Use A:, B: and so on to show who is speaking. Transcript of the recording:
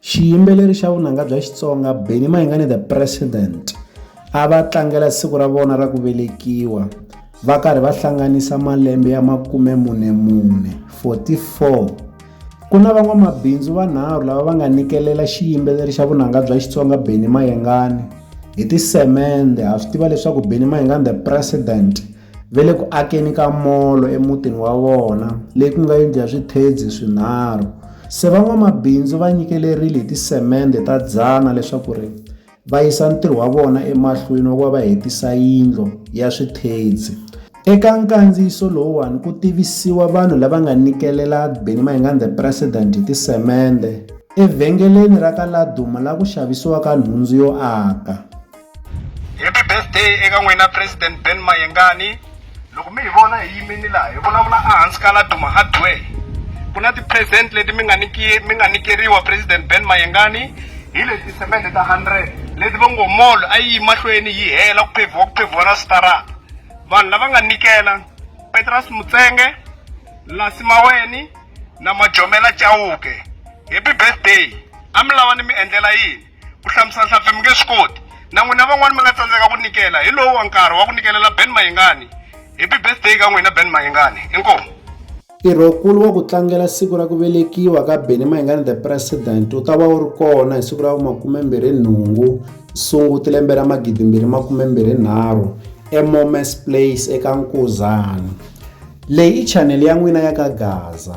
A: Xiyimbeleri xa vunanga bya Xitsonga Benny Mayengani the President a va tlangela siku ra vona ra ku velekiwa va karhi va hlanganisa malembe ya makume mune mune 44 ku na van'wamabindzu vanharhu lava va nga nikelela xiyimbeleri xa vunanga bya Xitsonga Benny Mayengani hi tisemende ha swi tiva leswaku Benny Mayengani the President ve le ku akeni ka molo emutini wa vona leyi ku nga yindlu ya swithedzi swinharhu se van'wamabindzu va nyikelerile hi tisemende ta dzana leswaku ri va yisa ntirho wa vona emahlweni wa ku va va hetisa yindlo ya swithedzi eka nkandziyiso lowuwani ku tivisiwa vanhu lava nga nikelela beni maingani the president hi tisemende evhengeleni ra ka laduma la ku xavisiwaka nhundzu yo aka happy birthday eka n'wina president ben mayengani loko mi hi vona hi yimini laha hi vulavula ehansi ka la duma hardware ku na ti-present leti mi nga niki mi nga nikeriwa president ben mayengani hi leti tisemende ta hundred leti va ngo mall a yi mahlweni yi hela ku phevhiwa ku phevhiwa na switarata vanhu lava nga nikela petras mutsenge lasi maweni na majomela chauke happy birthday a mi lava ni mi endlela yini ku hlamusela nhlampfi mi nge swi koti na n'wina van'wani mi nga tsandzeka ku nikela hi lowu wa nkarhi wa ku nikelela ben mayingani happy birthday ka n'wina ben mayingani inkomu ntirhokulu wa ku tlangela siku ra ku velekiwa ka beni mayingani the president wu ta va wu ri kona hi siku ra vumakumembirhi nhungu sunguti lembe ra magidimbirhi makumembirhi nharhu emomes place eka nkuzana leyi i chanele ya n'wina ya ka gaza